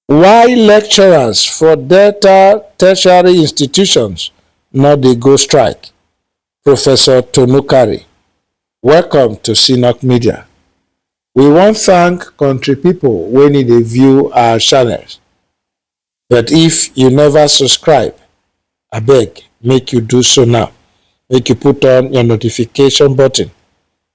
Why lecturers for Delta tertiary institutions no dey go strike? Professor Tonukari, welcome to CNOC Media. We wan thank country people wey need dey view our channels. But if you never subscribe, abeg make you do so now. Make you put on your notification button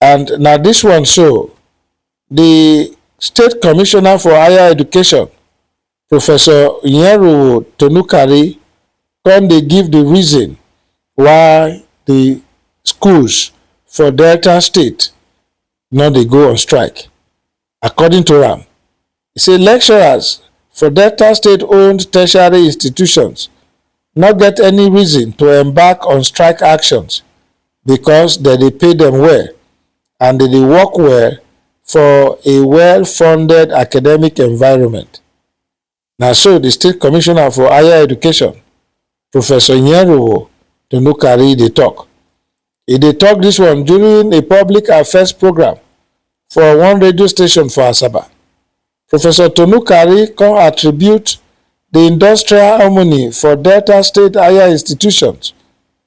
And na this one so, the State Commissioner for Higher Education, Professor Nyeruwo Tonukari, come dey give the reason why the schools for Delta State no dey go on strike. According to am, e say lecturers for Delta state-owned tertiary institutions no get any reason to embark on strike actions because dem dey pay dem well and dem dey work well for a well-funded academic environment. Na so di state commissioner for higher education, Professor Nyeruwo Dunukari dey tok. E dey tok dis one during a public affairs programme for one radio station for Asaba. Professor Tonukari come attribute di industrial harmony for Delta State higher institutions,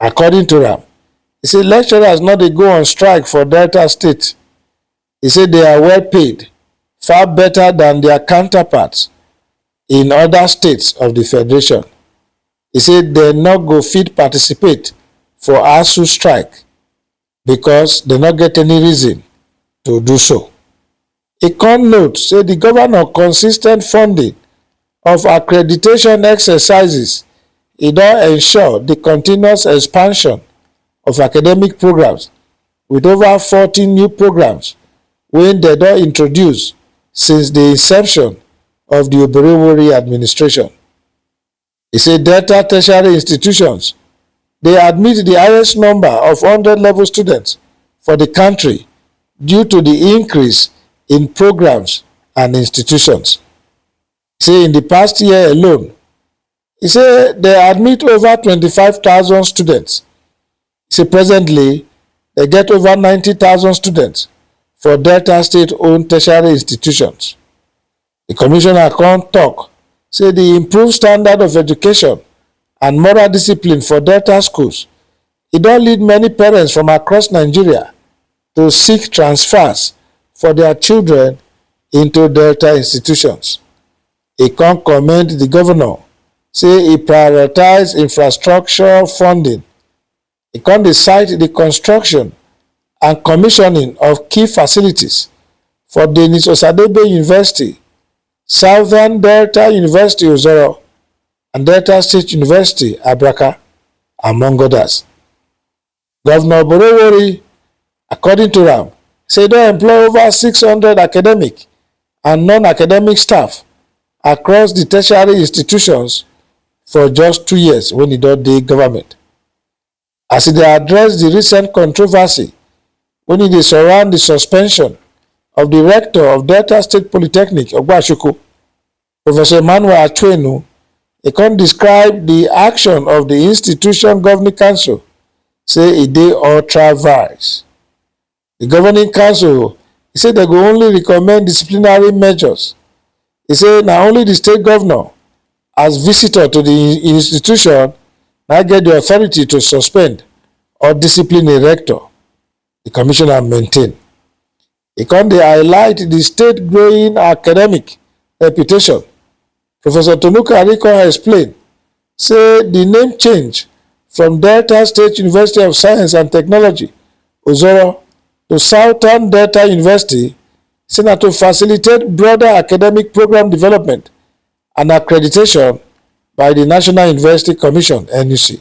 According to am, e say lecturers no dey go on strike for Delta State. E say they are well paid, far better than their counterparts in other states of the federation. E say they no go fit participate for ASUU strike because dem no get any reason to do so. E come note say di governor consis ten t funding of accreditation exercises e don ensure di continuous expansion of academic programmes wit ova forty new programmes wey dem don introduce since di inception of di Oberewori administration. He say Delta tertiary institutions dey admit di highest number of hundred level students for di kontri due to di increase in programmes and institutions. He say in di past year alone, he say dem admit over twenty five thousand students. He say presently dem get over ninety thousand students for Delta state owned tertiary institutions. Di commissioner come tok say di improved standard of education and moral discipline for Delta schools e don lead many parents from across Nigeria to seek transfers for dia children into Delta institutions. E come commend di govnor say e prioritise infrastructure funding E come dey cite di construction and commissioning of key facilities for Denis Osadebe University, Southern Delta University Ozoro and Delta State University Abraka among odas. Govnor Oborowori According to am, say e don employ over six hundred academic and non-academic staff across di tertiary institutions for just two years wen e don dey government. As e dey address di recent controversy wen e dey surround di suspension of di rector of Delta State Polytechnic, Ogbashoko, Professor Emmanuel Achwenu e come describe di action of di institution governing council say e dey ultra vires. Di governing council e say dem go only recommend disciplinary measures. E say na only di state governor as visitor to di institution na get di authority to suspend or discipline a rector, di commissioner maintain. E come dey highlight di state growing academic reputation. Professor Tolukari come explain say di name change from Delta State University of Science and Technology, Ozoro, to Southern Delta University say na to facilitate broader academic programme development and accreditation by di National University Commission, NUC.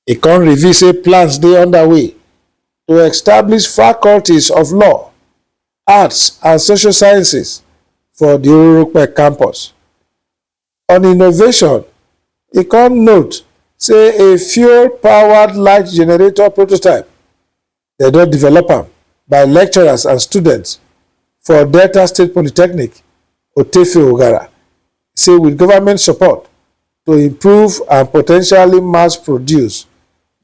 E come reveal say plans dey underway to establish faculties of law, arts and social sciences for di Orurupe campus. On innovation, e come note say a fuel-powered light generator prototype Dem don develop am by lecturers and students for Delta State Polytechnic, Otefe Ogara say with government support to improve and potentially mass produce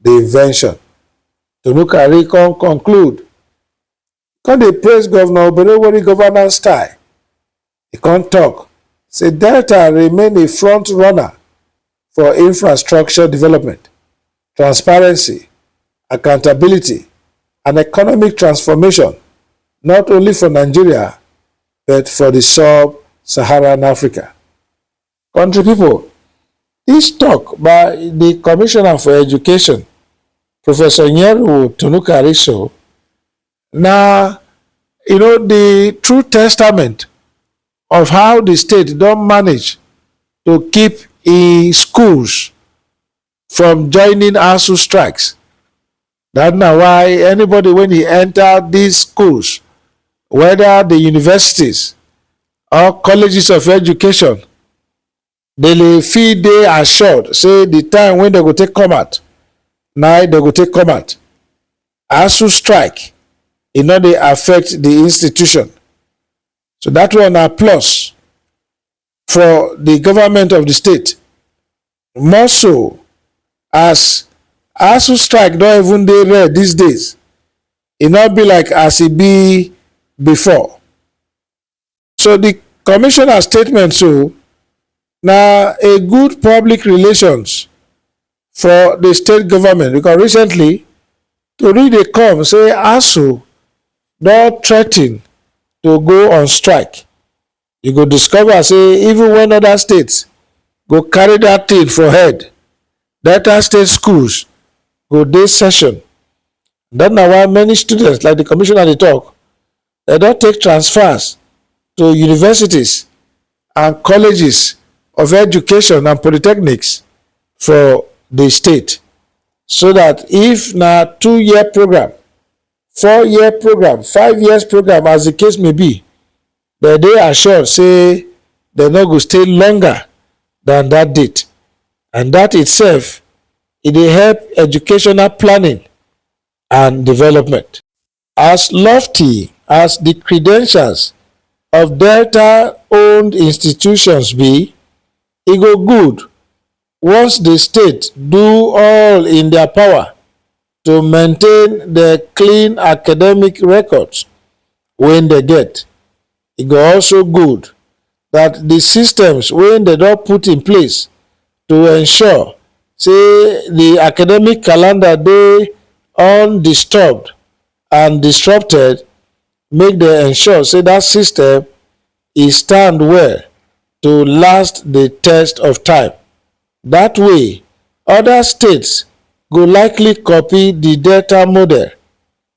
the invention. Tonukari come conclude come dey praise Governor Oberewori governance style E come tok say Delta remain a front runner for infrastructure development, transparency, accountability and economic transformation not only for Nigeria but for di sub-Saharan Africa. Kontri pipo, dis tok by di Commissioner for Education, Professor Nyeruwo Tunukariso Na you know di true testament of how di state don manage to keep im schools from joining Asuu strikes. Dat na why anybody wen e enta dis schools, weda di universities or colleges of education, dem fit dey assured say the time wey dem go take come out na dem go take come out asu strike e no dey affect the institution so that one na plus for the government of the state more so as asu strike don even dey rare these days e no be like as e be before So the commissioner statement so na a good public relations for the state government because recently tori dey come say ASUU don threaten to go on strike. You go discover say even when other states go carry that thing for head, Delta state schools go dey session. That na why many students like the commissioner dey talk dem don take transfers to universities and colleges of education and polytechnics for di state so dat if na two year programme four year programme five years programme as di case may be dem dey assured say dem no go stay longer dan dat date and dat itself e dey help educational planning and development. As lofty as di credentials of Delta-owned institutions be, e go good once di state do all in dia power to maintain di clean academic records wey dem get. E go also good dat di systems wey dem don put in place to ensure say di academic calendar dey undisturbed and disrupted make dem ensure say dat system e stand well to last di test of time. Dat way, oda states go likely copy di Delta model